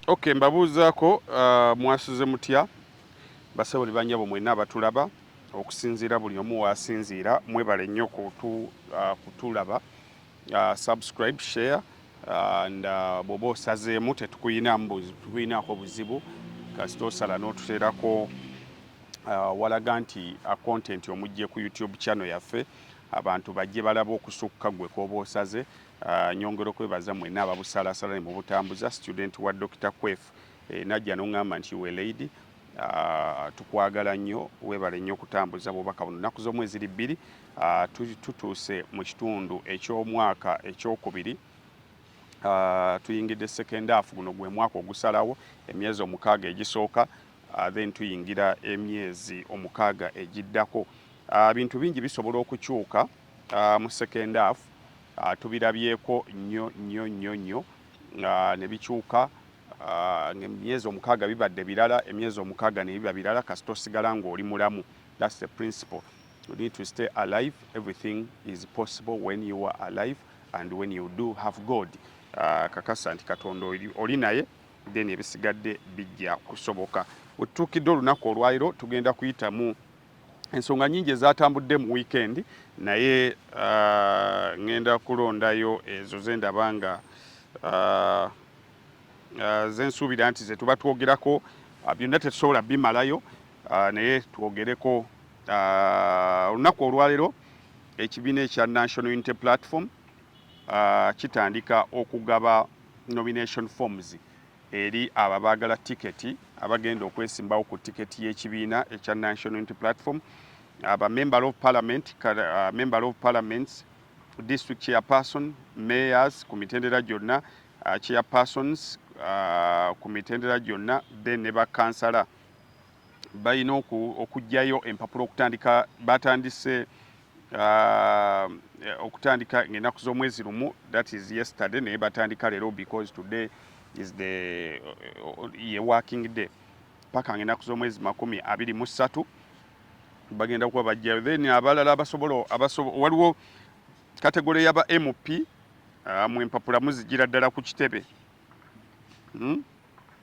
Okay, mbabuuzaako uh, mwasuze mutya basebo ne banyabo mwena abatulaba okusinziira buli omu waasinziira mwebale nnyo kutu, uh, kutulaba uh, subscribe share uh, and uh, bwoba osazeemu tetukuyinaako buzibu kasita osala n'otuteerako uh, walaga nti a uh, content omujje ku youtube channel yaffe abantu bajje balaba okusukka gwe kwoba osaze Uh, nyongera okwebaza mwena ababusalasala ne mubutambuza student wa Dr. Kwef eh, najja nongamba nti we lady uh, tukwagala nnyo webale nnyo okutambuza bubaka buno naku z'omu eziri bbiri uh, tutuuse mu kitundu eky'omwaka ekyokubiri uh, tuyingidde second half guno gwe mwaka ogusalawo emyezi omukaaga egisooka uh, then tuyingira emyezi omukaaga egiddako uh, bintu bingi bisobola okukyuka uh, uh, mu second half uh, tubirabyeko nnyo nnyo nnyo nnyo uh, ne bikyuka uh, emyezi omukaaga bibadde birala emyezi omukaaga ne biba birala kasita osigala ng'oli mulamu that's the principle you need to stay alive everything is possible when you are alive and when you do have god uh, kakasa nti katonda oli naye then ebisigadde bijja kusoboka wetutuukidde olunaku olwaliro tugenda kuyitamu ensonga nyingi ezatambudde mu wiikendi naye uh, ngenda kulondayo ezo zendaba nga uh, uh, zensuubira nti zetuba twogerako uh, byonna tetusobola bimalayo uh, naye twogereko uh, olunaku olwalero ekibiina ekya national unity platform uh, kitandika okugaba nomination forms eri abo abaagala tiketi abagenda okwesimbawo ku tiketi y'ekibiina ekya National Unity Platform aba member of parliament uh, member of parliaments district chairperson mayors ku mitendera gyonna uh, chairpersons uh, ku mitendera gyonna then ne bakansala balina okugyayo empapula okutandika batandise uh, okutandika ngaenaku z'omwezi lumu that is yesterday naye batandika leero because today is the uh, ye working day paka ngaenaku z'omwezi makumi abiri mu ssatu bagenda kuba bajjayo then abalala abasobola waliwo kategole yaba mp uh, mu empapula muzijira ddala ku kitebe hmm?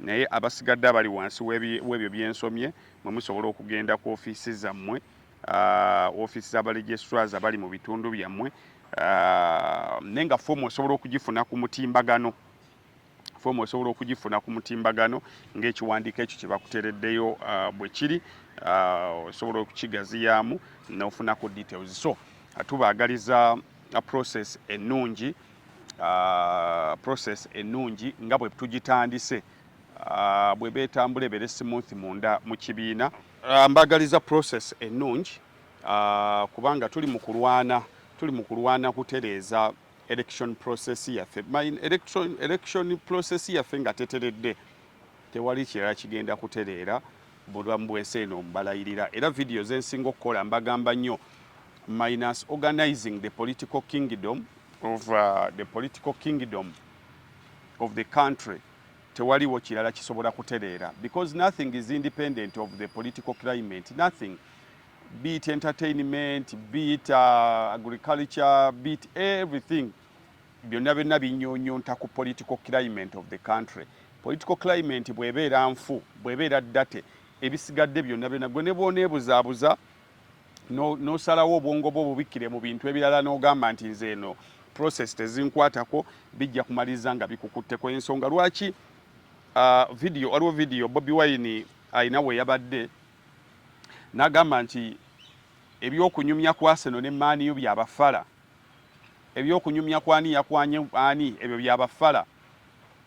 Naye abasigadde abali wansi w'ebyo bye nsomye, mwe musobola okugenda ku ofiisi zammwe, ofiisi za balegistrars abali mu bitundu byammwe, naye nga foomu osobola okugifuna ku mutimbagano foomu osobola okugifuna ku mutimbagano ng'ekiwandiiko ekyo kye bakuteereddeyo uh, bwe kiri uh, osobola okukigaziyaamu n'ofunako details so uh, tubaagaliza process ennungi uh, process ennungi nga bwe tugitandise uh, bwe beetambula ebeere smooth munda mu kibiina uh, mbagaliza process ennungi uh, kubanga tuli mu kulwana tuli mu kulwana kutereeza election process yaffe election process yaffe nga teteredde tewali kirala kigenda kutereera bulamu bwensi eno mbalayirira era vidiyo zensinga okukola mbagamba nnyo minus organizing the political kingdom of uh, the political kingdom of the country tewaliwo kirala kisobola kutereera because nothing is independent of the political climate nothing beat entertainment beat uh, agriculture beat everything byonna byonna binyunyunta ku political climate of the country political climate bwebeera nfu bwebeera date ebisigadde byonna byonna gwe ne bwoneebuzaabuza nosalawo no obwongo bwo bubikkire mu bintu ebirala n'ogamba nti nze eno process tezinkwatako bijja kumaliriza nga bikukutteko ensonga lwaki uh, video waliwo video bobi wine alina we yabadde n'agamba nti ebyokunyumya kwaseno ne maaniyo byabafala Ebyokunyumya kwani yakwanye ani ebyo bya bafala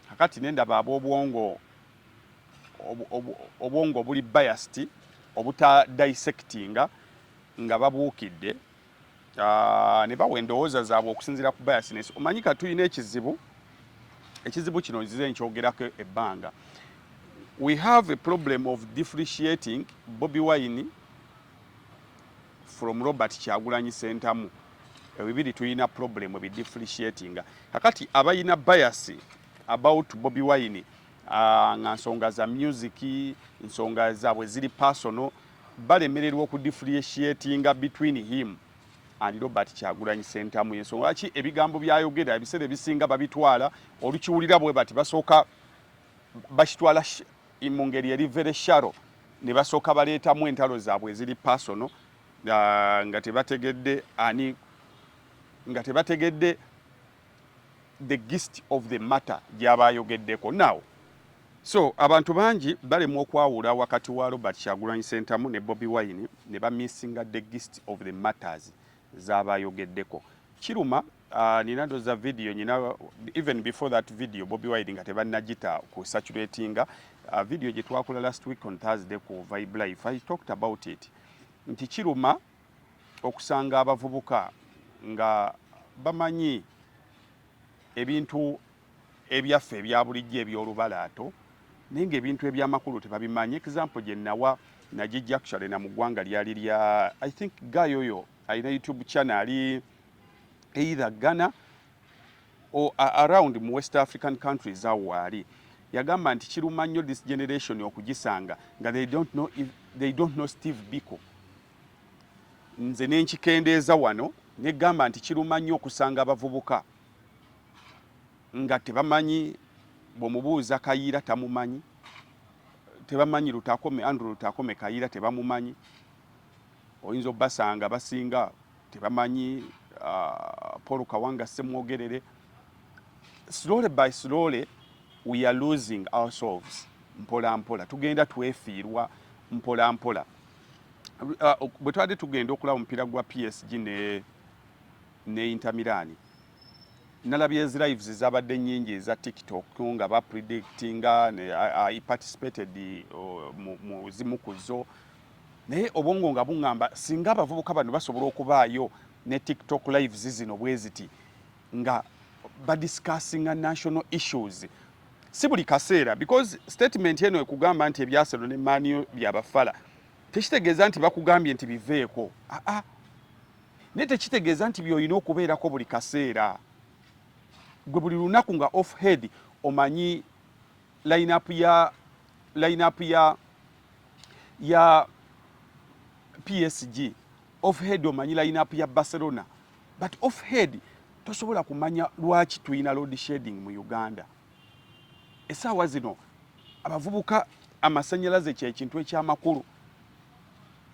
kakati nendaba abobwongo obwongo obuli biased obuta dissectinga nga babuukidde ah, ne bawa endowooza zaabwe okusinziira ku biasness. Omanyi ka tulina ekizibu, ekizibu kino nzize nkyogerako ebbanga. We have a problem of differentiating Bobi Wine from Robert Kyagulanyi Sentamu ebibiri tulina problem bi differentiating kakati abayina bias about Bobby Wine ah, nga nsonga za music nsonga zaabwe ziri personal balemererwa oku differentiating between him and Robert Kyagulanyi Sentamu yensonga lwaki ebigambo byayogera ebiseera ebisinga babitwala olukiwulira bwe bati basooka bakitwala mu ngeri eri very shallow ne basooka baleetamu entalo zaabwe eziri personal uh, nga tebategedde ani nga tebategedde the gist of the matter gyaba ayogeddeko now so abantu bangi balemwa okwawula wakati wa robert kyagulanyi sentamu ne bobi wine ne bamissinga the gist of the matters zaba ayogeddeko kiruma Uh, nina doza video nyina even before that video Bobby Wine nga tebanajita ku saturatinga uh, video gye twakola last week on Thursday ku Vibe Life I talked about it nti kiruma okusanga abavubuka nga bamanyi ebintu ebyaffe ebya bulijjo eby'olubalaato naye ng'ebintu eby'amakulu tebabimanyi example gye nawa nagijja actually na mu ggwanga lyali lya i think guy oyo alina youtube channel ali either Ghana or around mu West African countries awo waali yagamba nti kiruma nnyo this generation okugisanga nga they don't know, if, they don't know Steve Biko nze nenkikendeeza wano negamba nti kiruma nnyo okusanga abavubuka nga tebamanyi bwomubuuza kayiira tamumanyi tebamanyi lutakome andrew lutakome kayiira tebamumanyi oyinza obasanga basinga tebamanyi uh, Paul Kawanga Ssemwogerere slowly by slowly we are losing ourselves mpola mpola tugenda twefiirwa mpola mpola uh, bwe twali tugenda okulaba omupiira gwa PSG ne ne Inter Milan nalabye lives zabadde nyingi eza TikTok nga ba predictinga ne, uh, I participated uh, mu zimu kuzo naye obwongo nga buŋŋamba singa abavubuka bano basobola okubaayo ne tiktok lives zino bwe ziti nga badiscussinga national issues si buli kaseera because statement eno ekugamba nti ebyaselo ne maaniyo byabafala tekitegeeza nti bakugambye nti biveeko aa ah, ah. naye tekitegeeza nti byolina okubeerako buli kaseera gwe buli lunaku nga off head omanyi line up ya line up ya ya PSG off head omanyi line up ya Barcelona but off head tosobola kumanya lwaki tulina load shedding mu Uganda esaawa zino abavubuka amasanyalaze kyekintu ekyamakulu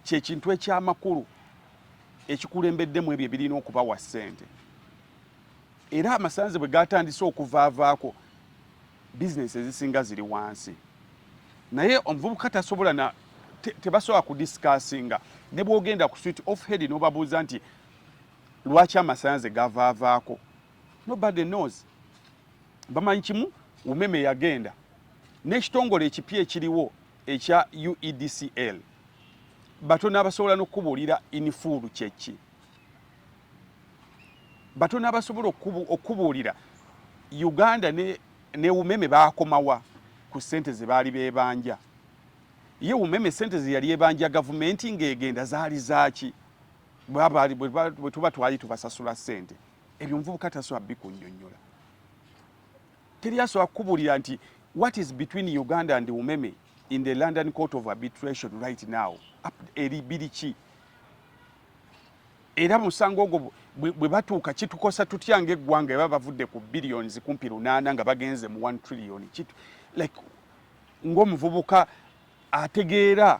kyekintu ekyamakulu ekikulembeddemu ebyo ebirina okubawa ssente era amasanze bwe gatandise okuvaavaako bizinesi ezisinga ziri wansi naye omuvubuka tasobola na tebasobola kudisikasinga ne bwogenda ku swit off head nobabuuza nti lwaki amasanze gavaavaako nobody knows bamanyi kimu umeme yagenda n'ekitongole ekipya ekiriwo ekya uedcl batono abasobola n'okukubuulira inifuulu kyeki batono abasobola okukubuulira uganda ne, ne umeme baakomawa ku sente ze baali beebanja ye umeme sente ze yali ebanja gavumenti ng'egenda zaali zaaki bwe tuba twali tubasasula sente ebyo omuvubuka tasobola bikunyonyola teri asobola kukubuulira nti what is between uganda and umeme in the london court of arbitration right now eri biri ki era musango ogwo bwe batuuka kitukosa tutya ng'eggwanga eba bavudde ku billions kumpi lunaana nga bagenze mu one trillion kitu like ng'omuvubuka ategeera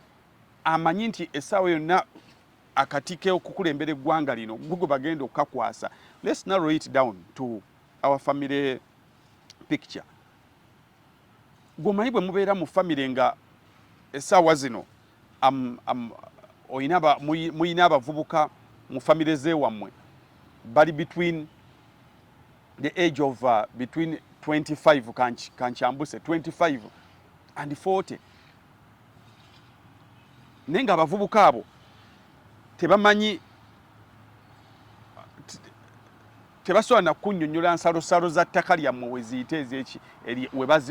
amanyi nti essaawa yonna akati k'okukulembera eggwanga lino gwe bagenda okukakwasa let's narrow it down to our family picture gwomanyi bwe mubeera mu family nga essaawa zino mulina abavubuka mu famire zewammwe bali between the age of uh, between 25 kankyambuse 25 and 40 naye nga abavubuka abo tebamanyi tebasobola na kunyonyola nsalosalo za ttaka lyammwe weziyite ezeki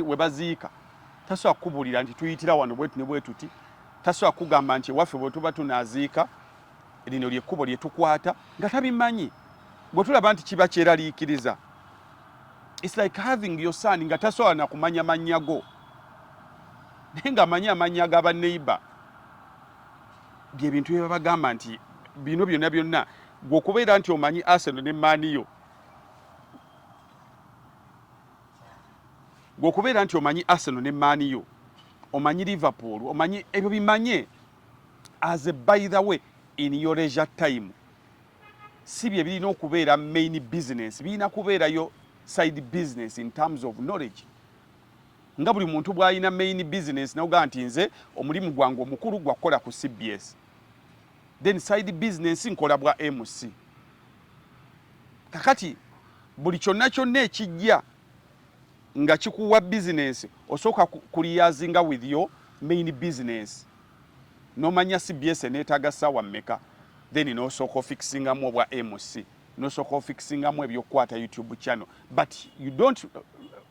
we baziika tasobola kukubuulira nti tuyitira wano bwetu ne bwetuti tasobola kugamba nti ewaffe bwe tuba tunaziika lino lyekkubo lye tukwata nga tabimanyi bwe tulaba nti kiba kyeraliikiriza its like having your son nga tasobola na kumanya mannya go naye ng'amanyi amannya ga baneighbor bye bintu bye babagamba nti bino byonna byonna gwe okubeera nti omanyi Arsenal ne maaniyo gwe okubeera nti omanyi Arsenal ne maaniyo omanyi Liverpool omanyi ebyo bimanye as a by the way in your leisure time si bye birina okubeera main business birina kubeerayo side business in terms of knowledge nga buli muntu bwalina main business noga nti nze omulimu gwange omukulu gwa kukola ku cbs then side business nkola bwa mc kakati buli kyonna kyonna ekijja nga kikuwa business osooka kuliyazinga with your main business nomanya cbs eneetaaga ssaawa mmeka then nosooka ofikisingamu obwa mc nosooka ofikisingamu ebyokukwata youtube channel but you don't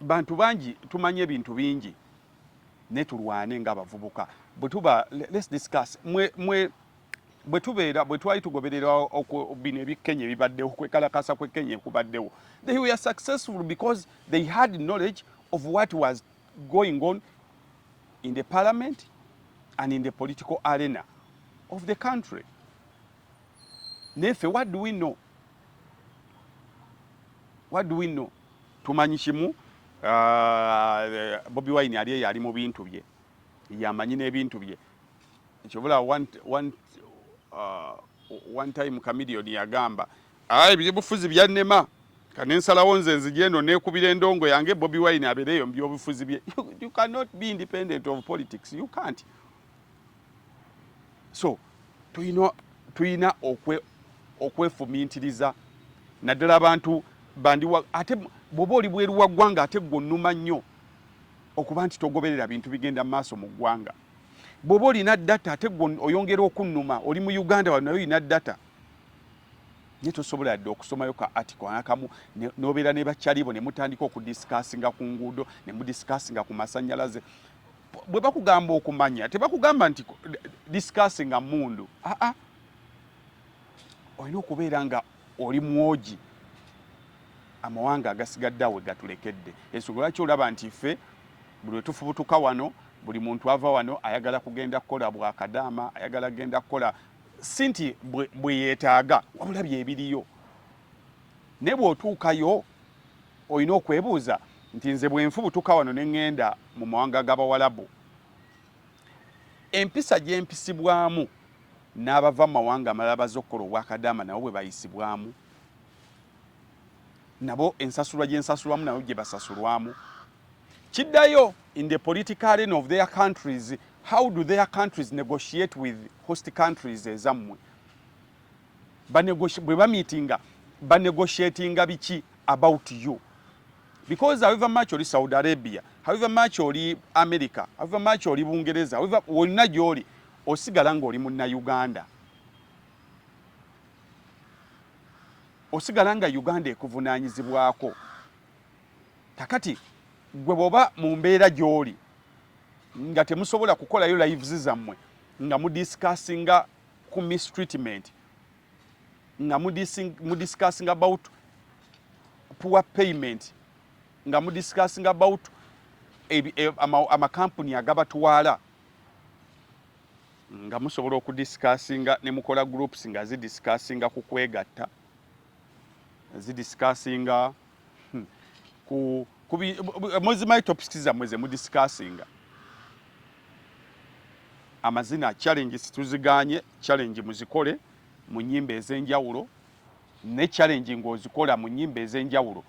Bantu bangi tumanyi ebintu bingi naye tulwane nga abavubuka bwe tuba let's discuss mwe mwe bwe tubeera bwe twali tugoberera bino ebyekenya ebibaddewo kwekalakasa kwekenya ekubaddewo they were successful because they had knowledge of what was going on in the parliament and in the political arena of the country nefe what do we know what do we know tumanyi kimu uh, bobi wine ali eyo ali mu bintu bye yamanyi n'ebintu bye kyobula one, one, uh, one time kamilioni yagamba ah, ebyobufuzi byannema kanensalawo nze nzija eno nekubira endongo yange bobi wine abeereeyo mu byobufuzi bye you, you cannot be independent of politics you can't so tulina tulina okwe okwefumintiriza naddala abantu bandiwa ate bwoba oli bweru wa ggwanga ate gwe onnuma nnyo okuba nti togoberera bintu bigenda mu maaso mu ggwanga bwoba olina data ate gwe oyongera okunnuma oli mu uganda wa naye olina data naye tosobola yadde okusomayo ka article anakamu nobeera ne bakyalibo ne mutandika okudisikasinga ku nguudo ne mudisikasinga ku masanyalaze bwe bakugamba okumanya tebakugamba nti discuss nga mundu aa ah, ah. olina okubeera nga oli mwogi amawanga agasigadde awe gatulekedde ensonga lwaki olaba nti ffe buli wetufubutuka wano buli muntu ava wano ayagala kugenda kukola bwakadaama ayagala kugenda kukola si nti bweyetaaga wabula byebiriyo naye bwotuukayo olina okwebuuza nti nze bwenfubutuka wano neŋŋenda mu mawanga g'Abawalabu, empisa gye mpisibwamu n'abava mu mawanga amalala baze okukola obwakadaama nabo bwe bayisibwamu, nabo ensasulwa gye nsasulwamu nabo gye basasulwamu. Kiddayo in the political arena of their countries, how do their countries negotiate with host countries ezammwe? bwe bamitinga banegotiatinga biki about you because however much oli saudi arabia however much oli america however much oli bungereza however wonna gyoli osigala ngaoli munna uganda osigala nga uganda ekuvunanyizibwako kakati gwe bwoba mu mbeera gyoli nga temusobola kukolayo lives zammwe nga mudiscussinga ku mistreatment nga mudiscussing about poor payment nga mudiscussing about e, amakampuni agabatwala nga musobola okudiscussinga ne mukola groups nga zidiscussinga ku kwegatta zidiscussinga hmm. ku kubi muzimanyi topics zammwe ze mudisikasinga amazina challenge situziganye challenge muzikole mu nyimba ez'enjawulo ne challenge ng'ozikola mu nyimba ez'enjawulo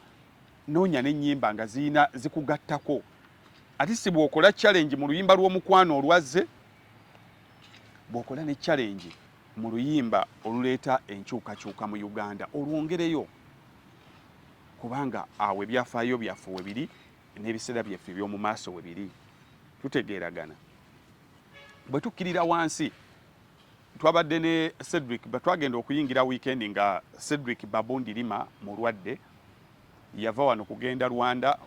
noonya n'ennyimba nga ziyina zikugattako ate si bw'okola challenge mu luyimba lw'omukwano olwazze bw'okola ne challenge mu luyimba oluleeta enkyukakyuka mu Uganda olwongereyo kubanga awo ebyafaayo byaffe we biri n'ebiseera byaffe eby'omu maaso we biri tutegeeragana bwe tukkirira wansi twabadde ne Cedric twagenda okuyingira weekend nga Cedric Babundi Lima mulwadde yava wano kugenda Rwanda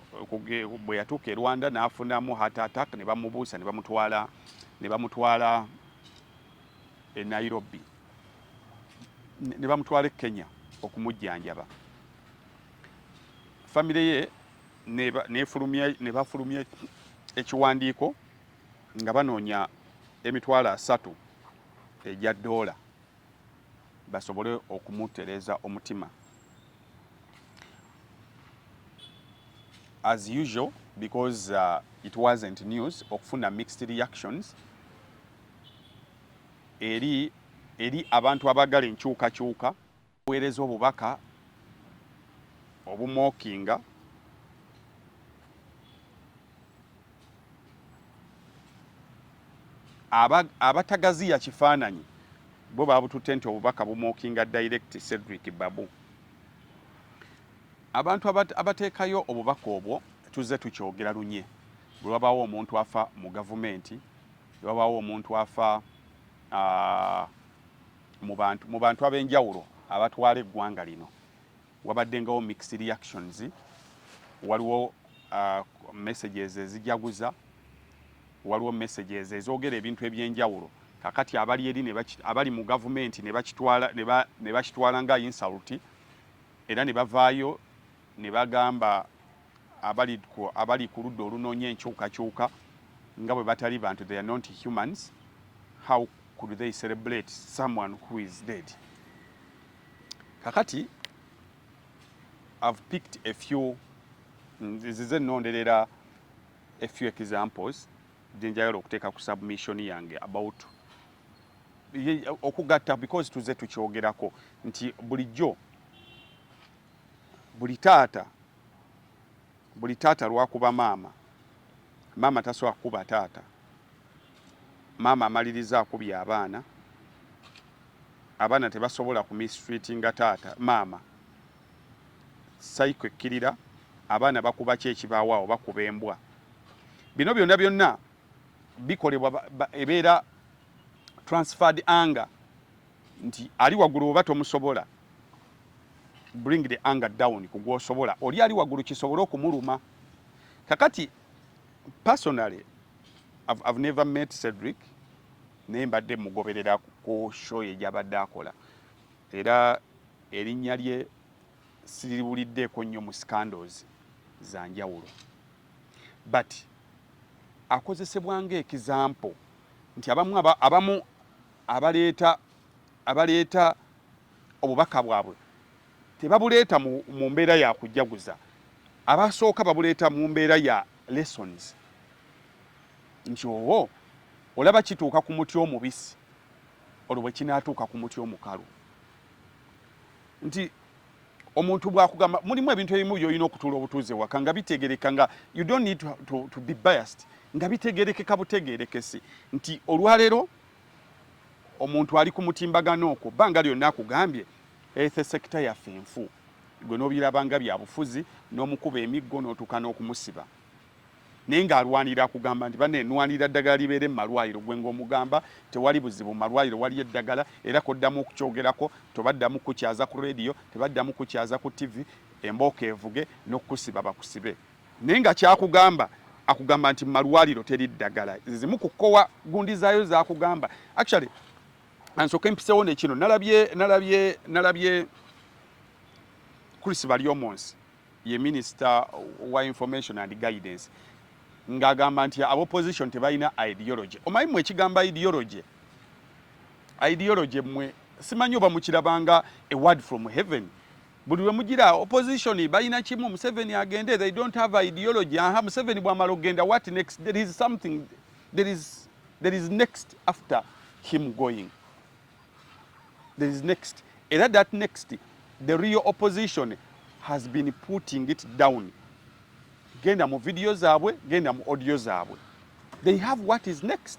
bwe yatuuka e Rwanda n'afunamu heart attack ne bamubuusa ne bamutwala ne bamutwala e Nairobi ne bamutwala e Kenya okumujjanjaba famire ye ne bafulumya ekiwandiiko nga banoonya emitwalo asatu egya doola basobole okumutereeza omutima as usual because uh, it wasn't news okufuna mixed reactions eri eri abantu abagala enkyukakyuka weereza obubaka obumookinga abatagaziya kifaananyi bo babututte nti obubaka bumookinga direct Cedric Babu abantu abateekayo obubaka obwo tuzze tukyogera lunye bwe wabaawo omuntu afa mu gavumenti Wabaawo omuntu afa mu bantu mu bantu ab'enjawulo abatwala eggwanga lino wabaddengawo mixed reactions waliwo uh, messages ezijaguza waliwo messages ezogera ebintu ebyenjawulo kakati abali eri abali mu gavumenti ne bakitwala nga insulti era ne bavaayo ne bagamba abali ku abali ku ludda olunoonya enkyukakyuka nga bwe batali bantu they are not humans how could they celebrate someone who is dead kakati i've picked a few nzize nonderera a few examples gyenjagala okuteeka ku submission yange about okugatta because tuze tukyogerako nti bulijjo buli taata buli taata lwakuba maama maama tasobola kukuba taata maama amaliriza akubye abaana abaana tebasobola ku mistreatinga taata maama saiko ekkirira abaana bakuba ki ekibawaawo bakuba embwa bino byonna byonna bikolebwa ebeera transferred anger nti ali waggulu oba tomusobola bring the anger down ku gwosobola oli ali waggulu kisobole okumuluma kakati personally I've, I've never met Cedric naye mbadde mugoberera ku show ye gyabadde akola era erinnya lye siriwuliddeeko nnyo mu scandals za njawulo but akozesebwa ng'ekizampo nti abamu abamu abaleeta abaleeta obubaka bwabwe tebabuleeta mu, mu mbeera ya kujaguza abasooka babuleeta mu mbeera ya lessons nti owo olaba kituuka ku muti omubisi olwo bwe kinaatuuka ku muti omukalu nti omuntu bwakugamba mulimu ebintu ebimu byolina okutuula obutuuze waka nga bitegereka nga you don't need to, to, to be biased nga bitegerekeka butegerekesi nti olwaleero omuntu ali ku mutimbagano okwo bbanga lyonna akugambye ethe sekita yaffe enfu gwe n'obiraba nga byabufuzi n'omukuba emiggo n'otuuka n'okumusiba naye ng'alwanira akugamba nti bane nwanira ddagala libeere mu malwaliro gwe ng'omugamba tewali buzibu mu malwaliro waliyo eddagala era koddamu okukyogerako tobaddamu kukyaza ku rediyo tebaddamu kukyaza ku tivi embooko evuge n'okukusiba bakusibe naye nga kyakugamba akugamba nti mumalwaliro teri ddagala zizimu kukowa gundi zaayo zakugamba actually ansoke mpisewo nekino nalabye nalabye nalabye Chris Balyomonsi ye minister wa information and guidance ngagamba nti abo opposition tebalina ideology omanyi mwe ekigamba ideology ideology mwe simanyi oba mukirabanga a word from heaven buli lwe mugira opposition balina kimu museveni agende they don't have ideology aha museveni bwamala okugenda what next there is something there is, there is next after him going there is next era that next the real opposition has been putting it down genda mu video zaabwe genda mu audio zaabwe they have what is next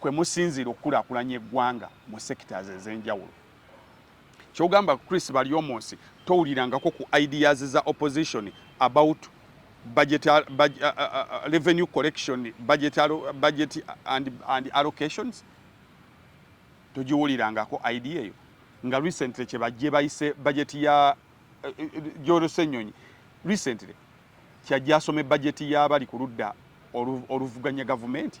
kwe musinziira okukulaakulanya eggwanga mu sectors ez'enjawulo. Kyogamba Chris Baryomunsi towulirangako ku ideas za opposition about budget, uh, budget, uh, uh, uh, revenue collection budget, uh, budget and, and allocations togiwulirangako idea eyo nga recently kyebajje bayise budget ya uh, uh jorosenyonyi recently kyajja asome budget ya bali ku ludda oluvuganya gavumenti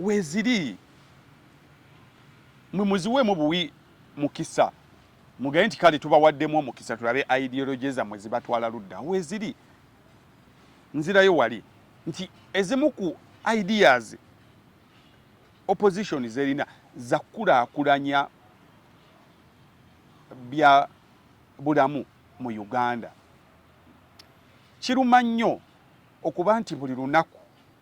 weziri mwe muziweemu buwi mukisa mugaye nti kale tubawaddemu omukisa tulabe ideology zammwe zibatwala ludda weziri nzirayo wali nti ezimu ku ideas opposition zerina zakukulaakulanya bya bulamu mu uganda kiruma nnyo okuba nti buli lunaku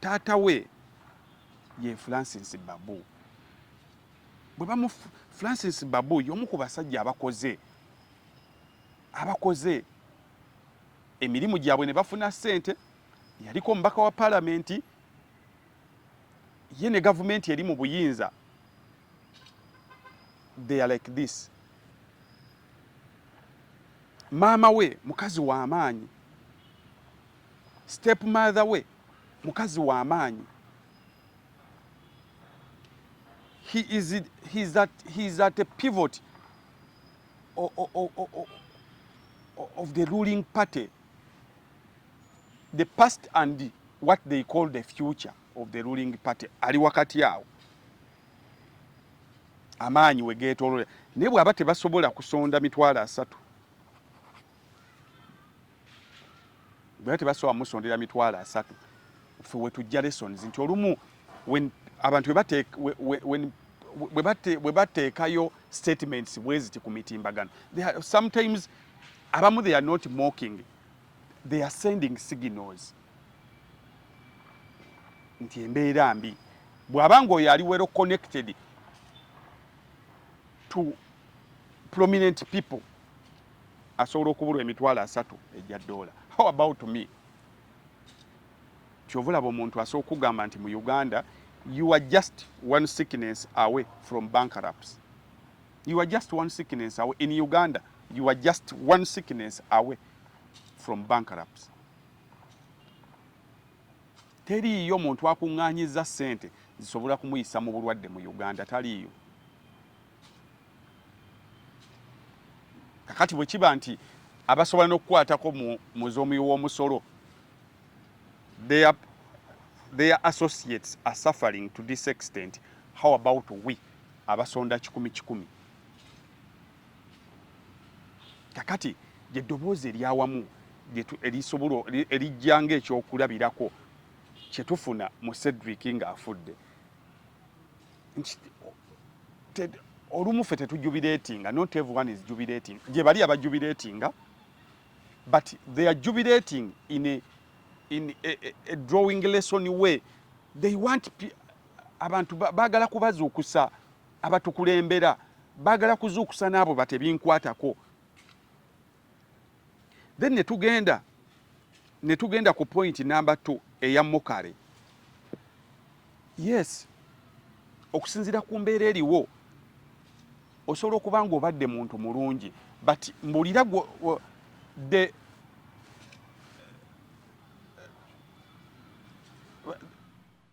taata we ye francis babu bwe bamu francis babu y'omu ku basajja abakoze abakoze emirimu gyabwe ne bafuna ssente yaliko omubaka wa palamenti ye ne gavumenti eri mu buyinza they are like this maama we mukazi w'amaanyi Step mother we mukazi wa maanyi. He is, he is at, he is at a pivot of, of, of, of the ruling party. The past and the, what they call the future of the ruling party ali wakati awo amaanyi we geetoolole naye bw'aba tebasobola kusonda mitwalo asatu bwena tebasobola musondera mitwalo asatu ffe wetujja lessons nti olumu abantu bwe bateekayo statements bweziti ku mitimbagano sometimes abamu they are not mocking they are sending signals nti embeera mbi bw'aba ng'oyo ali wero connected to prominent people asobola okubulwa emitwalo asatu egya ddoola how about me kyova olaba omuntu asobola okugamba nti mu uganda you are just one sickness away from bankrupts you are just one sickness away in uganda you are just one sickness away from bankrupts teriiyo muntu akuŋŋaanyiza ssente zisobola kumuyisa mu bulwadde mu uganda taliiyo kakati bwe kiba nti abasobola n'okukwatako mu z'omuwi w'omusolo their associates are suffering to this extent how about we abasonda kikumi kikumi kakati gye ddoboozi eryawamu erisobola erijja ngaekyokulabirako kyetufuna mu cedric ng'afudde olumu ffe tetujubireetinga not everyone is jubireeting gye bali abajubireetinga but they are jubireeting in a, in a, a, a drawing lesson way they want abantu baagala kubazuukusa abatukulembera baagala kuzuukusa n'abo batebinkwatako then netugenda netugenda ku point number 2 eya mukale yes okusinzira ku mbeera eriwo osobola okuba nga obadde muntu mulungi but mbulira the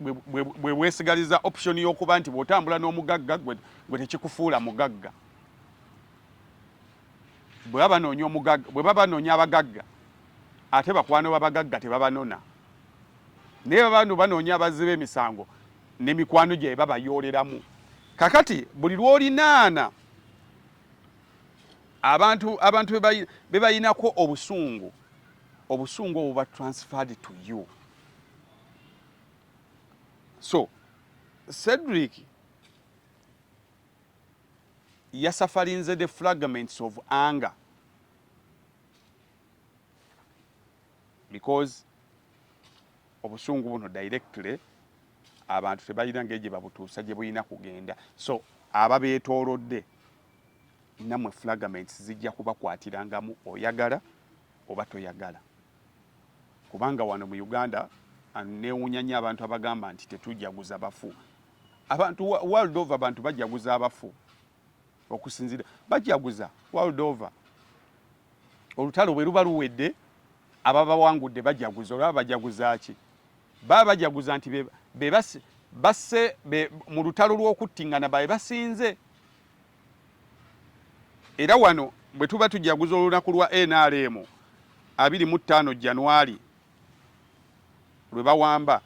bwe bwesigaliza option y'okuba nti bw'otambula n'omugagga gwe tekikufuula mugagga bwe baba banoonya omugagga bwe baba banoonya abagagga ate bakwano babagagga tebabanona naye babantu banoonya abazzi b'emisango ne mikwano gye babayooleramu kakati buli lw'olinaana abantu abantu bebayinako obusungu obusungu obuba transferred to you so cedric yasafarinze the fragments of anger because obusungu buno directly abantu tebalina ngeri gye babutuusa gye bulina kugenda so ababeetoolodde namwe fragments zijja kubakwatiranga mu oyagala oba toyagala kubanga wano mu Uganda newunya nnyo abantu abagamba nti tetujaguza bafu abantu world over abantu bajaguza abafu okusinzira bajaguza world over olutalo bwe luba luwedde ababawangudde bajaguza olaba bajaguza ki baba bajaguza nti be basse mu lutalo lw'okuttingana babe basinze era wano bwe tuba tujaguza olunaku lwa nrm abiri mu ttaano January lwe bawamba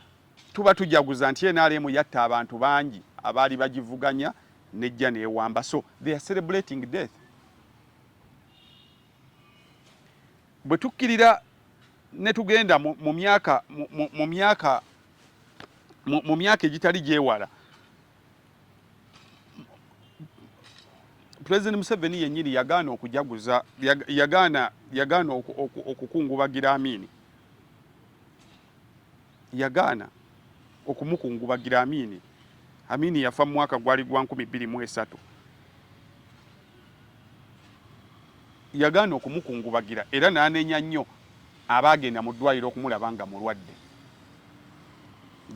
tuba tujaguza nti nrm yatta abantu bangi abaali bagivuganya nejja newamba so they are celebrating death bwe tukkirira ne tugenda mu myaka mu myaka mu myaka egitali gyewala president museveni yenyini yagaana okujaguza yagaana yagaana okukungubagira amini yagaana okumukungubagira amini amini yafa mu mwaka gwali gwa nkumi bbiri mu esatu yagaana okumukungubagira era n'anenya nnyo abaagenda mu ddwaliro okumulaba nga mulwadde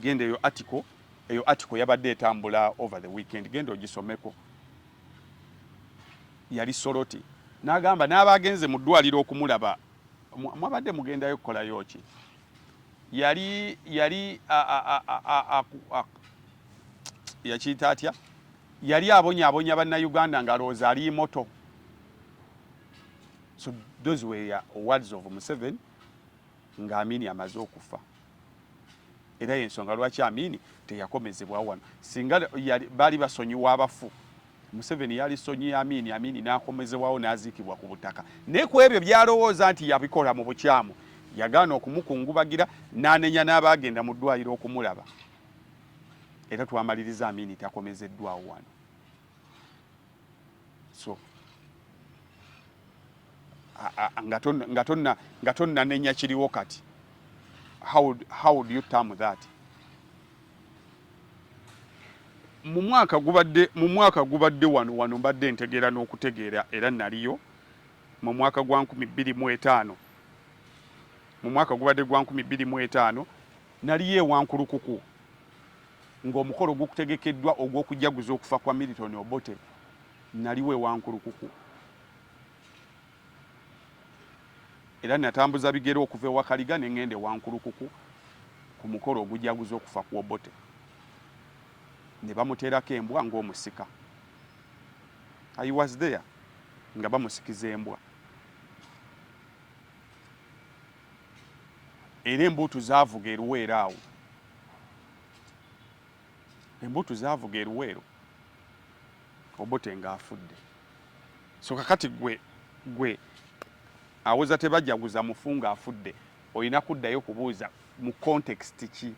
genda eyo atiko eyo article yabadde etambula over the weekend genda ogisomeko yali soloti nagamba n'abagenze mu ddwaliro okumulaba mwabadde mugendayo kukolayo ki yali yali yakiyita atya yali abonyabonya bannayuganda ng'alowooza ali moto so those were words of museveni nga Amini amaze okufa era yensonga lwaki Amini teyakomezebwa wano singa baali basonyiwa abafu Museveni yali sonyiye Amini Amini n'akomezebwawo n'aziikibwa ku butaka naye ku ebyo byalowooza nti yabikola mu bukyamu yagaana okumukungubagira n'anenya n'abaagenda mu ddwaliro okumulaba era twamaliriza Amini takomezeddwawo wano so nga tonnanenya kiriwo kati how, how do you term that mu mwaka gubadde mu mwaka gubadde wano wano mbadde ntegeera n'okutegeera era naliyo mu mwaka gwa nkumi bbiri mu etaano mu mwaka gubadde gwa nkumi bbiri mu etaano Naliyo e Wankulukuku ng'omukolo gukutegekeddwa ogw'okujaguza okufa kwa Milton Obote. Naliwo e Wankulukuku era natambuza bigere okuva e Wakaliga ne ng'enda e Wankulukuku ku mukolo ogujaguza okufa ku Obote ne bamuteerako embwa ng'omusika. I was there nga bamusikiza embwa. era embuutu zaavuga eruweero awo embuutu zaavuga eruweero obote nga afudde so kakati gwe gwe awoza tebajaguza mufu nga afudde olina kuddayo kubuuza mu context ki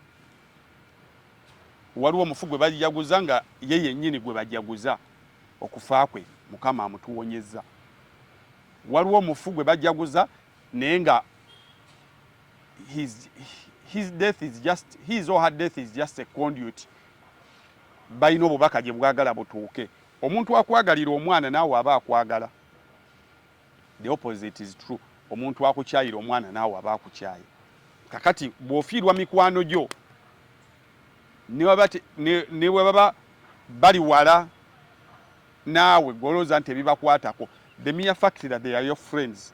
waliwo omufu gwe bajaguza nga ye yennyini gwe bajaguza okufa kwe mukama amutuwonyezza waliwo omufu gwe bajaguza naye nga his, his death is just his or her death is just a conduit balina obubaka gye bwagala butuuke omuntu akwagalira omwana naawe aba akwagala the opposite is true omuntu akukyayira omwana naawe aba akukyaye kakati bw'ofiirwa mikwano gyo ne bwe baba bali wala naawe golooza nti ebibakwatako the mere fact that they are your friends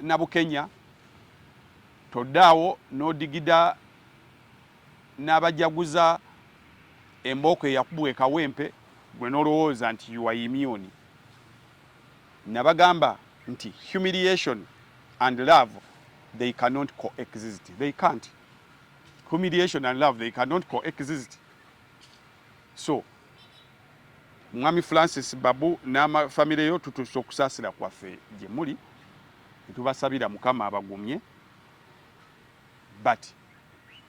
Nabukenya toddaawo n'odigida n'abajaguza embooko eyakubwa ekawempe gwe n'olowooza nti yuwa imyuni nabagamba nti humiliation and love they cannot coexist they can't humiliation and love they cannot coexist so Mwami Francis Babu n'ama famire yo tutuusa okusaasira kwaffe gye muli ne tubasabira Mukama abagumye but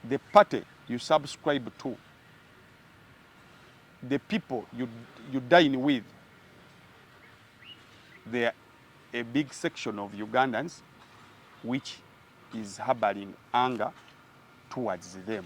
the party you subscribe to the people you, you dine with they are a big section of Ugandans which is harboring anger towards them.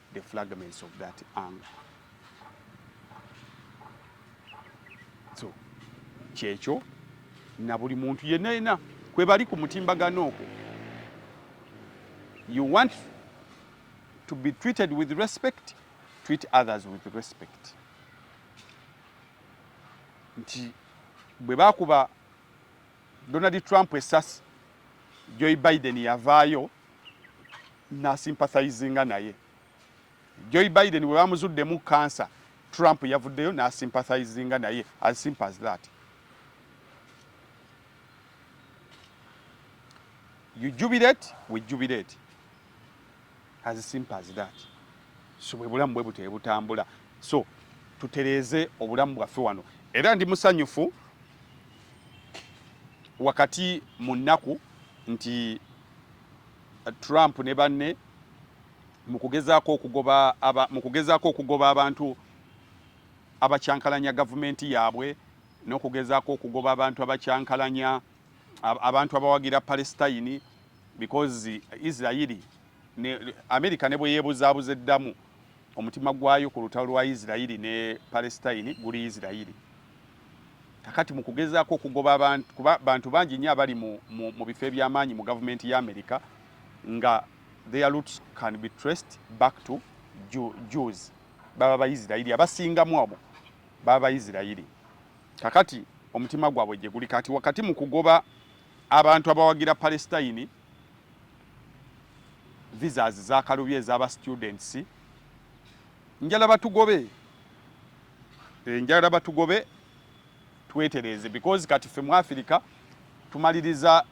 the fragments of that angle so kyekyo na buli muntu yenna yenna kwe bali ku mutimbagano okwo you want to be treated with respect treat others with respect nti bwe bakuba Donald Trump esasi Joe Biden yavaayo nasympathizinga naye. Joe Biden bwe bamuzuddemu kansa, Trump yavuddeyo nasympathizinga naye as simple as that. You jubilate, we jubilate. as simple as that so bwe bulamu bwe butyo butambula so tutereeze obulamu bwaffe wano era ndi musanyufu wakati mu nnaku nti uh, Trump ne banne mu kugezaako okugoba aba mu kugezaako okugoba abantu abakyankalanya gavumenti yaabwe n'okugezaako okugoba abantu abakyankalanya abantu abawagira Palestine because Israeli ne America ne bweyebuzabuza eddamu omutima gwayo ku lutalo lwa Israeli ne Palestine guli Israeli kakati mu kugezaako okugoba abantu kuba bantu bangi nnyo abali mu, mu, mu bifo eby'amaanyi mu gavumenti ya America nga their roots can be traced back to Jews baba Baisirairi abasingamu abo baba Baisirairi Kakati omutima gwabwe gye guli kati wakati mu kugoba abantu abawagira Palestine visas zakalubye ezaba students njala batugobe eh, njala batugobe twetereze because kati ffe mu Africa tumaliriza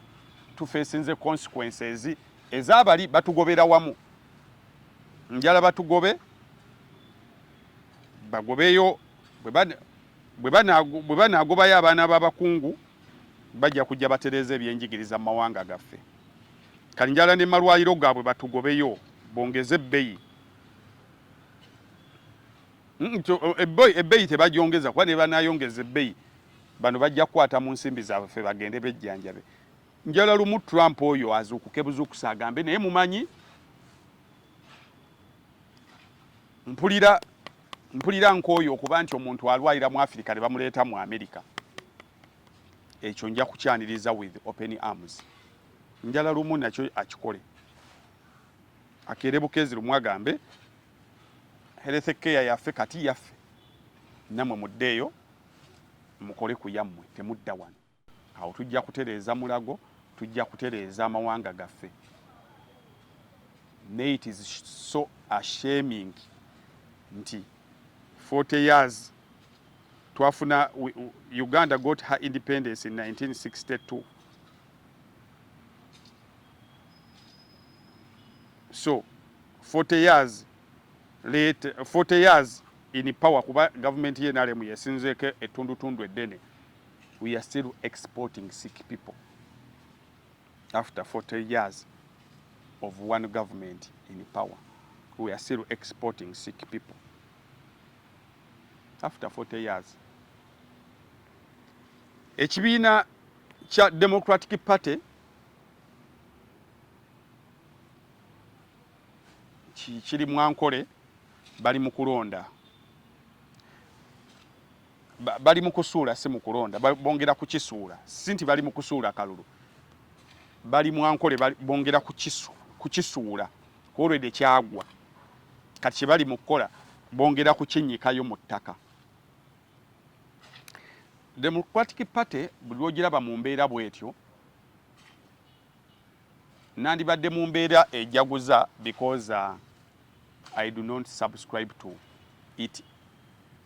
tufesinze consequences ezabali batugobera wamu njala batugobe bagobeyo bwe Bwe banaagobayo abaana b'abakungu, bajja kujja batereeze ebyenjigiriza mu mawanga gaffe. Kalinjala ne malwaliro gaabwe batugobeyo bongeze ebbeyi. Ebbeyi tebagyongeza kuba ne banaayongeza ebbeyi bano bajja kukwata mu nsimbi zaabwe ffe bagende bejjanjabe. Njala lumu Trump oyo azuukuke buzuukuse agambe naye mumanyi. Mpulira mpulira nkooye okuba nti omuntu alwalira mu Afirika ne bamuleeta mu Amerika. Ekyo nja kukyaniriza with open arms. Njala lumu nakyo akikole. Akeere bukeezi lumu agambe health care yaffe kati yaffe. Namwe muddeeyo mukole ku yammwe temudda wano. awo tujja kutereeza mulago tujja kutereeza amawanga gaffe naye it is so ashaming nti 40 years twafuna uganda got her independence in 1962 so 40 years late 40 years in power kuba government ye nalemu yesinzeko etundutundu eddene we are still exporting sick people after 40 years of one government in power we are still exporting sick people after 40 years ekibiina kya democratic party kiri mwankole bali mu kulonda bali mu kusuula si mu kulonda, bongera kukisuula. Si nti bali mu kusuula kalulu, bali mu ankole, bongera kukisuula kwolwede kyagwa. Kati kye bali mu kukola bongera kukinyikayo mu ttaka. Democratic Party buli lwogiraba mu mbeera bwetyo nandibadde mu mbeera ejaguza because uh, I do not subscribe to it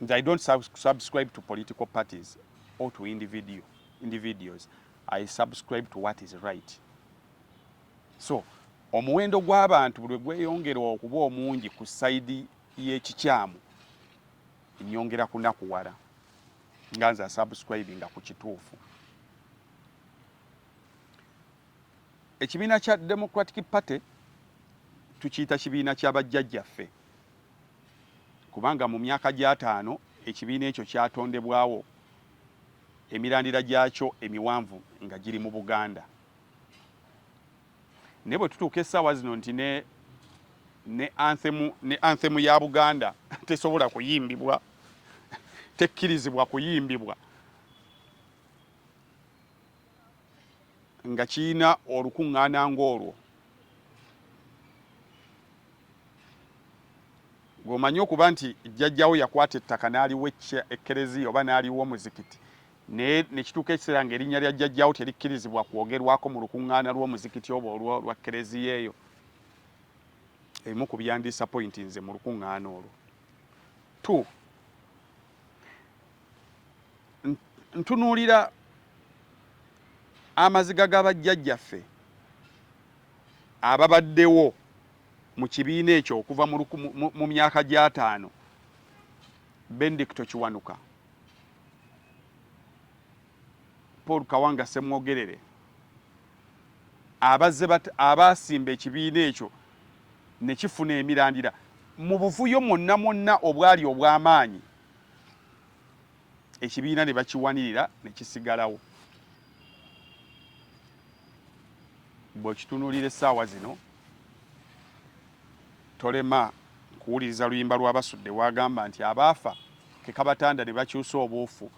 nze i don't subscribe to political parties or to individual individuals i subscribe to what is right so omuwendo gw'abantu buli gweyongera okuba omungi ku saidi y'ekikyamu nyongera kunakuwala nga nze asubscribinga ku kituufu ekibiina kya democratic party tukiyita kibiina kya bajjajjaffe kubanga mu myaka gy'ataano ekibiina ekyo kyatondebwawo, emirandira gyakyo emiwanvu nga giri mu Buganda. Naye bwe tutuuka essaawa zino nti ne ne anthemu ne anthemu ya Buganda tesobola kuyimbibwa tekkirizibwa kuyimbibwa nga kirina olukuŋŋaana ng'olwo gwomanyi okuba nti jjajjawo yakwata ettaka n'aliwo ekkereziya oba n'aliwo omuzikiti naye nekituuka ekiseera ng'erinnya lya jjajjawo terikkirizibwa kwogerwako mu lukuŋŋaana lw'omuzikiti oba olwo lwa kkereziya eyo emu ku byandiisa pointi nze mu lukuŋŋaana olwo two ntunuulira amaziga ga bajjajjaffe ababaddewo mu kibiina ekyo okuva mu myaka gy'ataano bendicto kiwanuka paul kawanga semwogerere abazze abaasimba ekibiina ekyo ne kifuna emirandira mu buvuyo mwonna mwonna obwali obw'amaanyi ekibiina ne bakiwanirira ne kisigalawo. Bw'okitunuulira essaawa zino tolema kuwuliriza luyimba lwa Basudde wagamba nti abaafa ke kabatanda ne bakyusa obuufu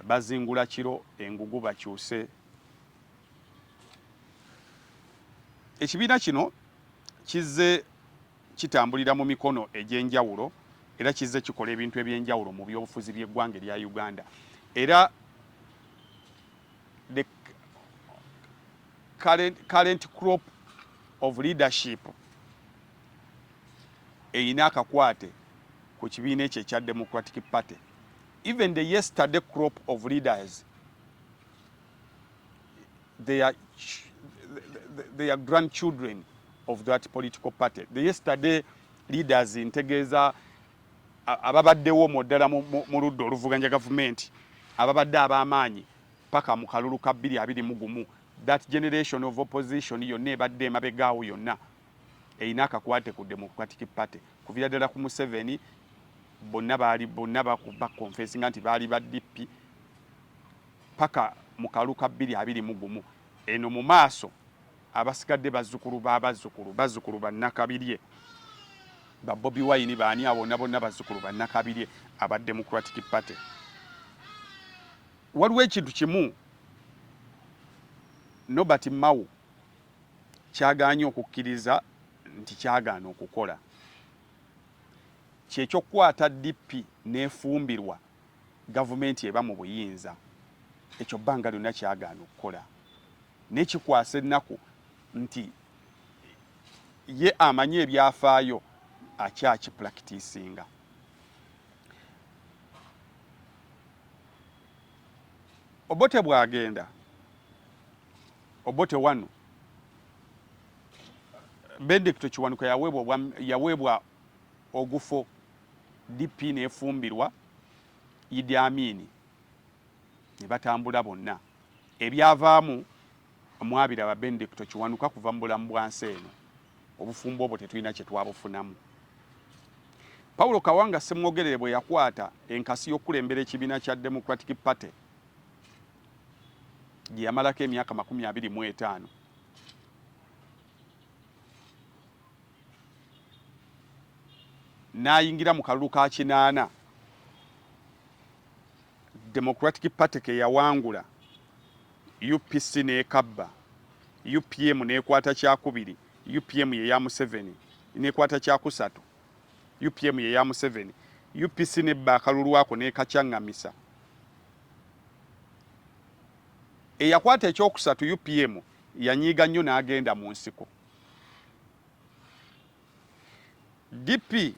bazingula kiro engugu bakyuse. Ekibiina kino kizze kitambulira mu mikono egy'enjawulo era kizze kikola ebintu eby'enjawulo mu byobufuzi by'eggwanga erya Uganda era the current, current crop of leadership erina akakwate ku kibiina ekyo ekya Democratic Party even the yesterday crop of leaders their, their grandchildren of that political party. The yesterday leaders ntegeeza ababaddewo mu ddala mu ludda oluvuganya gavumenti ababadde ab'amaanyi paka mu kalulu ka bbiri abiri mu gumu that generation of opposition yonna ebadde emabegaawo yonna erina akakwate ku democratic party kuvira ddala ku museveni bonna baali bonna bakonfesinga nti baali ba dp paka mu kalu ka bbiri abiri mu gumu eno mu maaso abasigadde bazzukulu ba bazzukulu bazzukulu ba Nakabirye ba Bobi Wine baani abo bona bonna bazzukulu ba Nakabirye aba Democratic Party waliwo ekintu kimu Nobert Mao kyagaanye okukkiriza nti kyagaana okukola kyekyokukwata DP n'efumbirwa gavumenti eba mu buyinza ekyo bbanga lyonna kyagaana okukola naye kikwasa ennaku nti ye amanyi ebyafaayo akyakipulakitisinga obote bwagenda obote wano benedicto kiwanuka yaweebwa ogufo DP nefumbirwa Idi Amini ne batambula bonna ebyavaamu mwabiraba Benedicto Kiwanuka kuva mu bulamu bwa nsi eno obufumbo obwo tetulina kye twabufunamu Paulo Kawanga Ssemwogerere bwe yakwata enkasi y'okukulembera ekibiina kya Democratic Party gye yamalako emyaka makumi abiri mu etaano n'ayingira mu kalulu ka kinaana Democratic Party ke yawangula, UPC n'ekabba, UPM n'ekwata kyakubiri, UPM ye ya Museveni n'ekwata kyakusatu, UPM ye ya Museveni, UPC n'ebba akalulu ako n'ekacang'amisa. Eyakwata ekyokusatu UPM yanyiiga nnyo n'agenda mu nsiko. DP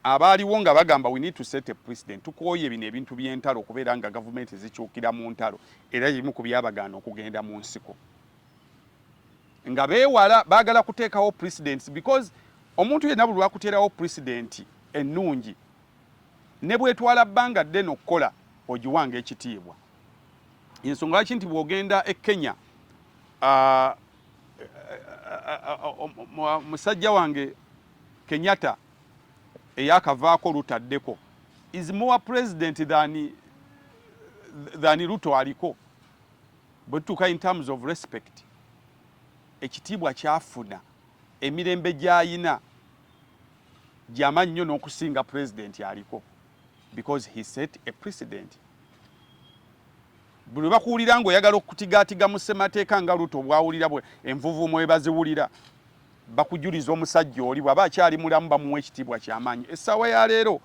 abaaliwo nga bagamba we need to set a president tukooye bino ebintu by'entalo okubeera nga gavumenti zikyukira mu ntalo era ebimu ku byabagaana okugenda mu nsiko nga beewala baagala kuteekawo presidents because omuntu yenna buli lwakuteerawo presidenti ennungi ne bwetwala bbanga ddene okukola ogiwanga ekitiibwa ensonga lwaki nti bw'ogenda e kenya uh, musajja wange Kenyatta eyakavaako lutaddeko is more president than, than Ruto aliko bwetutuuka in terms of respect ekitiibwa kyafuna emirembe gyayina gyama nnyo n'okusinga president aliko because he set a precedent buli bakuwulira ngaoyagala okutigaatiga mu ssemateeka nga luto bwawulira bwe envuvuumo we baziwulira bakujuliza omusajja oli bwaba akyali mulamu bamuwa ekitiibwa kyamaanyi essaawa ya leero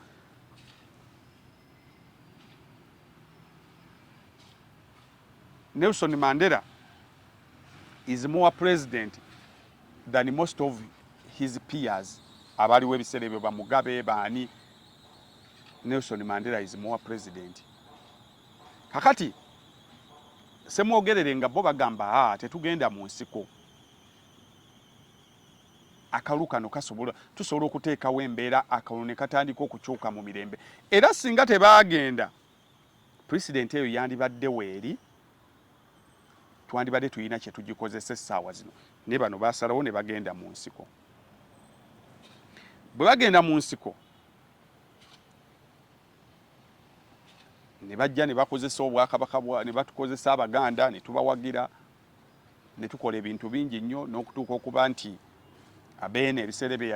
nelson mandela is more president than most of his peers abaaliwo ebiseera ebyo bamugabe baani Nelson Mandela is more president. Kakati semwogerere nga bo bagamba a ah, tetugenda mu nsiko akalu kano kasobola tusobola okuteekawo embeera akalu ne katandika okukyuka mu mirembe era singa tebaagenda pulezidenti eyo yandibadde weeri twandibadde tulina kye tugikozesa essaawa zino ne bano basalawo ne bagenda mu nsiko bwe bagenda mu nsiko ne bajja ne bakozesa obwakabaka ne batukozesa abaganda ne tubawagira ne tukola ebintu bingi nnyo n'okutuuka okuba nti abeene ebiseera ebyo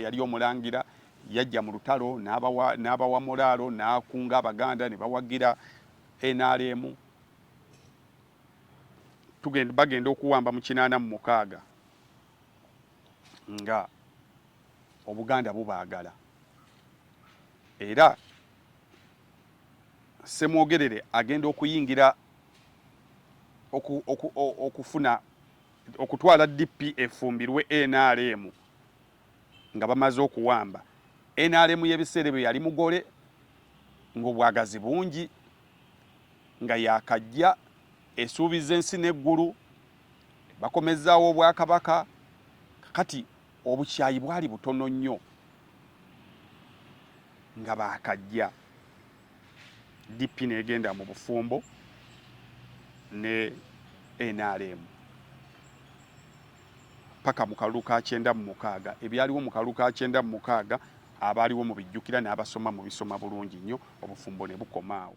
yali omulangira yajja mu lutalo n'abawa mulaalo n'akunga abaganda ne bawagira nrm bagenda okuwamba mu kinaana mu mukaaga nga obuganda bubaagala era semwogerere agenda okuyingira okufuna okutwala DP efumbirwe NRM nga bamaze okuwamba NRM y'ebiseera ebyo yali mugole ng'obwagazi bungi nga yakajja esuubiza ensi n'eggulu bakomezzaawo obwakabaka kakati obukyayi bwali butono nnyo nga baakajja dp negenda mu bufumbo ne nrm paka mu kalulu ka kyenda mu mukaaga ebyaliwo mu kalulu ka kyenda mu mukaaga abaaliwo mu bijjukira n'abasoma mu bisoma bulungi nnyo obufumbo ne bukomaawo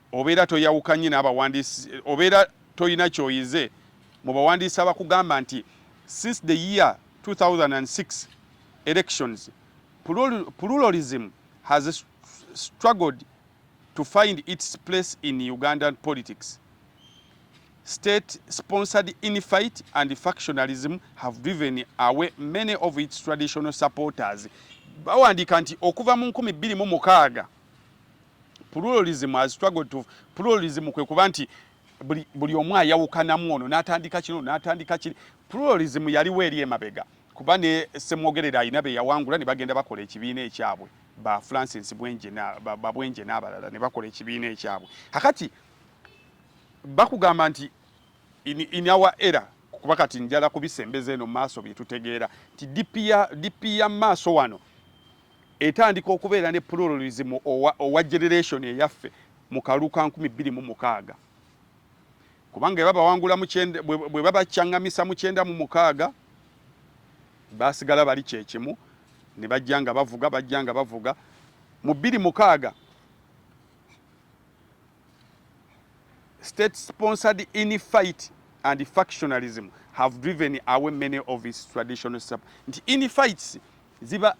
Obeera toyawukanye n'abawandiisi obeera tolina ky'oyize mu bawandiisi abakugamba nti since the year 2006 elections pluralism has struggled to find its place in Ugandan politics. State sponsored infight and factionalism have driven away many of its traditional supporters. Bawandiika nti okuva mu 2006 pluralism as struggle to pluralism kwe kuba nti buli, buli omu ayawukanamu ono n'atandika kino n'atandika kiri pluralism yaliwo eri emabega kuba ne semwogerera alina be yawangula ne bagenda bakola ekibiina ekyabwe ba francis bwenje na babwenje n'abalala ne bakola ekibiina ekyabwe kakati bakugamba nti in, in our era kuba kati njala kubisembeza eno maaso byetutegeera nti dp ya maaso wano etandika okubeera ne pluralism owa, owa generation eyaffe mu kalulu ka nkumi bbiri mu mukaaga kubanga eba bawangula bwe babaccangamisa mu kyenda mu mukaaga basigala bali kyekimu ne bajja nga bavuga bajja nga bavuga mu bbiri mukaaga state sponsored in fight and factionalism have driven away many of its traditional sub nti in fights ziba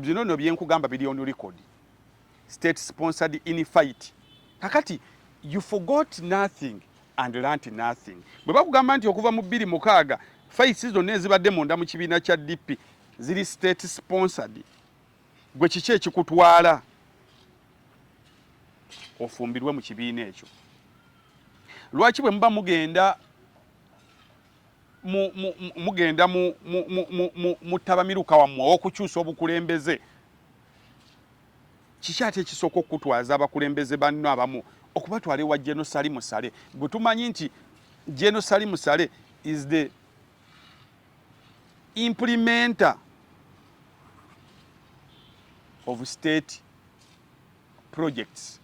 bino no byenkugamba bili on record state sponsored in fight kakati you forgot nothing and learnt nothing bwe bakugamba nti okuva mu bbiri mukaaga fights zonna ezibadde munda mu kibiina kya DP ziri state sponsored gwe kiki ekikutwala ofumbirwe mu kibiina ekyo lwaki bwe muba mugenda mugenda muttabamiruka wammwe ow'okukyusa obukulembeze kiki ate ekisooka okukutwaza abakulembeze banno abamu okubatwala ewa jenosali musale gwe tumanyi nti jenosali musale is the implementer of state projects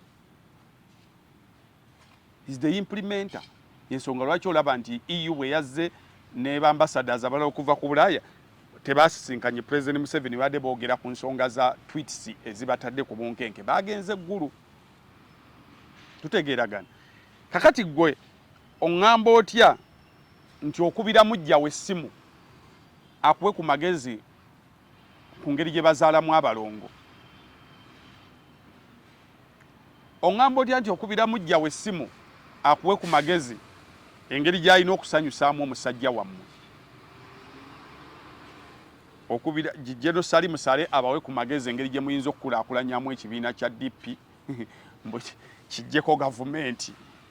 is the implementer yensonga lwaki olaba nti eu bwe yazze ne bambasadas abalala okuva ku bulaaya tebasisinkanye president museveni badde boogera ku nsonga za twits ezibatadde ku bunkenke bagenze eggulu tutegeeragana kakati gwe Ongamba otya nti okubira mujjawo essimu akuwe ku magezi ku ngeri gye bazaalamu abalongo? Ongamba otya nti okubira mujjawo essimu akuwe ku magezi engeri gy'alina okusanyusaamu omusajja wammwe? okubira Jijeno Sali Musale abawe ku magezi engeri gye muyinza okukulaakulanyamu ekibiina kya DP mbu kijjeko gavumenti.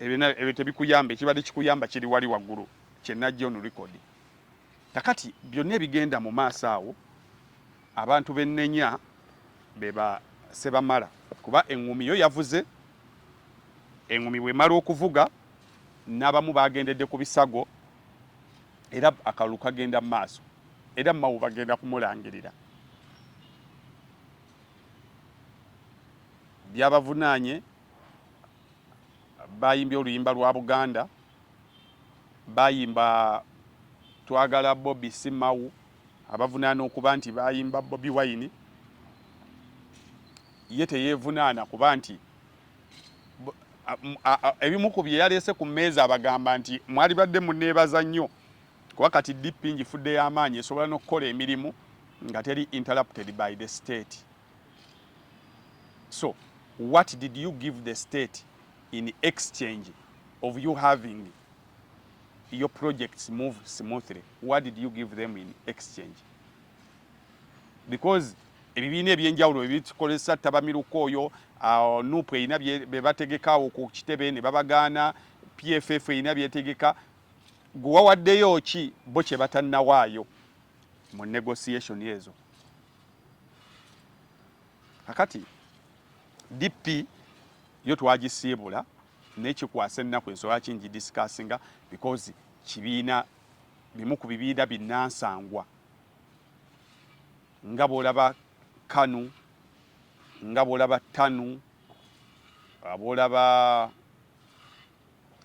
ebyo tebikuyamba ekibadde kikuyamba kiri wali waggulu kyenajja onu record kakati byonna ebigenda mu maaso awo abantu bennenya beba sebamala kuba eŋŋumi yo yavuze eŋŋumi bwemala okuvuga n'abamu bagendedde ku bisago era akalulu kagenda mu maaso era mawu bagenda kumulangirira byabavunaanye bayimbye oluyimba lwa Buganda, bayimba twagala Bobi Simawu, abavunaana okuba nti bayimba Bobi Wine, ye teyevunaana kuba nti ebimu ku bye yaleese ku mmeeza abagamba nti mwalibadde muneebaza nnyo kuba kati DP ngifudde y'amaanyi esobola n'okukola emirimu nga teri interrupted by the state so what did you give the state in exchange of you having your projects move smoothly what did you give them in exchange because ebibiina ebyenjawulo ebikolesa ttabamiruka oyo uh, nup erina bebategekaawo ku kitebe ne babagaana pff erina byetegeka Gwe wawaddeyo ki bo kye batannawaayo mu negotiation ezo? Kakati DP yo twagisiibula naye kikwasa ennaku ensonga ki ngidisikasinga because kibiina bimu ku bibiina binnansangwa nga bw'olaba kanu nga bw'olaba tanu bw'olaba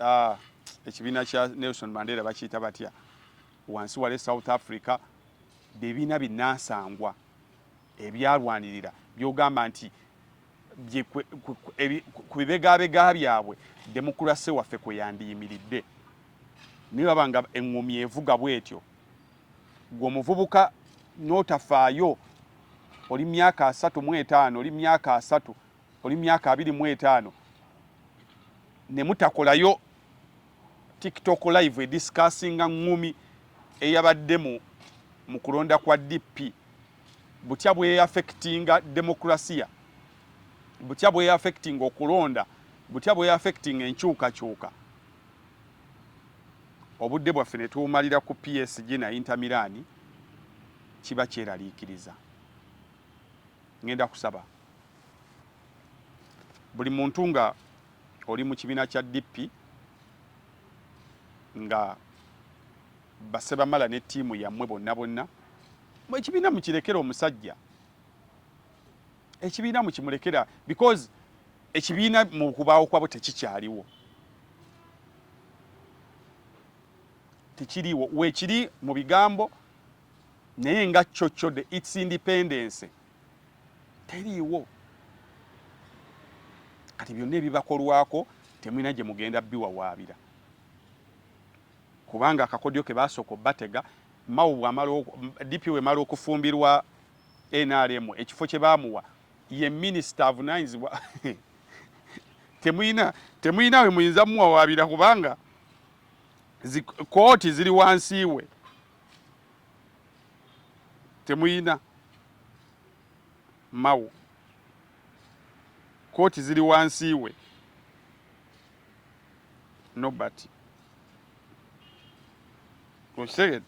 Ah, ekibiina kya Nelson Mandela bakiyita batya wansi wale South Africa bebiina binasangwa ebyalwanirira byogamba nti ku bibegabega byabwe demokulase waffe kwe yandiyimiridde naye baba nga eŋŋomi evuga bwetyo gwe omuvubuka n'otafaayo oli myaka asatu mu etaano oli myaka asatu oli myaka abiri mu etaano ne mutakolayo tiktok live edisikasinga ngumi eyabadde mu mu kulonda kwa DP butya bweyafekitinga demokrasiya butya bweyafekitinga okulonda butya bweyafekitinga enkyukakyuka obudde bwaffe ne tuwumalira ku PSG na Inter Milan kiba kyeraliikiriza ngenda kusaba buli muntu nga oli mu kibiina kya DP nga basebamala ne ttiimu yammwe bonna bonna ekibiina mukirekera omusajja ekibiina mukimurekera because ekibiina mu kubaawo kwabo tekikyaliwo tekiriwo weekiri mu bigambo naye nga kyo kyo the its independence teriiwo kati byonna ebibakolwako temulina gye mugenda biwawaabira kubanga akakodyo ke baasooka obatega mawo bwamala dp wemala okufumbirwa nrm ekifo kye baamuwa ye minisita avunanyizibwa temuyina temuyina we muyinza muwawaabira kubanga kooti ziri wansi we temuyina mawo kooti ziri wansi we nobert okitegede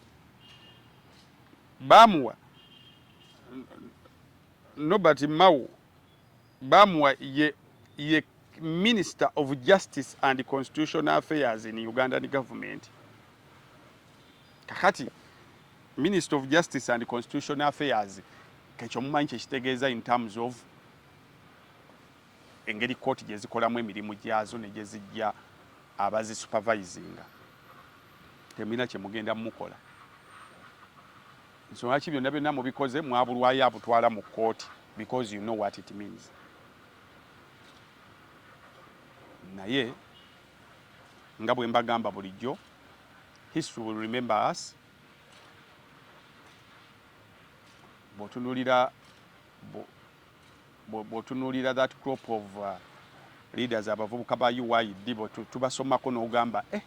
bamuwa nobert mawo Bamuwa ye, ye Minister of Justice and Constitutional Affairs in Ugandan Government. Kakati Minister of Justice and Constitutional Affairs kekyo mumanyi kyekitegeeza in terms of engeri kooti gye zikolamu emirimu gyazo ne gye zijja abazi supervisinga temulina kye mugenda mukola Nsonga ki byonna byonna mubikoze mwabulwayo abutwala mu kkooti because you know what it means. Naye nga bwe mbagamba bulijjo history will remember us. Bw'otunuulira bw'otunuulira that crop of uh, leaders abavubuka ba UYD bwe tubasomako n'ogamba eh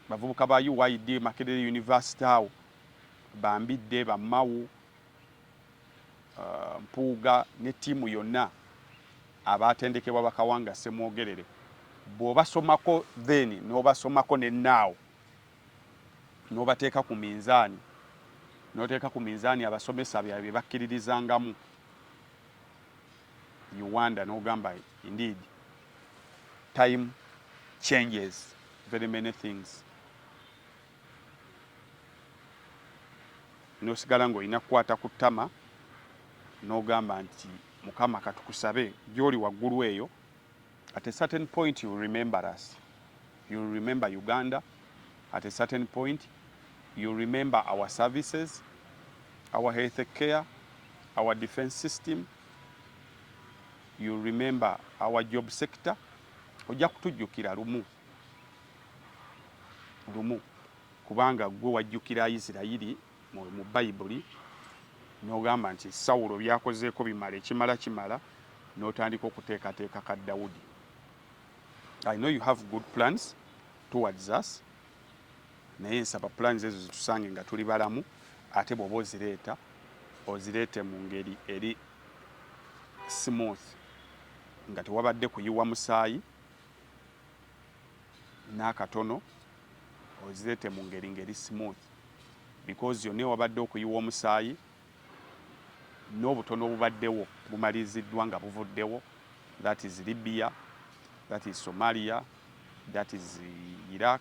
bavubuka ba UYD Makerere University awo bambidde bamawu uh, mpuuga ne ttiimu yonna abaatendekebwa bakawanga semwogerere bw'obasomako then n'obasomako ne naawo n'obateeka ku minzaani n'oteeka ku minzaani abasomesa bye bakkiririzangamu you wonder nogamba indeed time changes very many things nosigala ngaolina kukwata ku ttama nogamba nti mukama katukusabe gyoli waggulu eyo At a certain point you remember us. You remember Uganda. At a certain point you remember our services, our health care, our defense system. You remember our job sector. Ojja kutujjukira lumu lumu kubanga gwe wajjukira Isirayiri mu bayibuli n'ogamba nti sawulo byakozeeko bimala ekimala kimala n'otandika okuteekateeka ka dawudi i know you have good plans towards us naye nsaba plans ezo zitusange nga tuli balamu ate bw'oba ozireeta ozireete mu ngeri eri smooth nga tewabadde kuyiwa musaayi n'akatono ozirete mu ngeri ngeri smooth because yonna ewabadde okuyiwa omusaayi n'obutono obubaddewo bumaliziddwa nga buvuddewo that is libya that is somalia that is iraq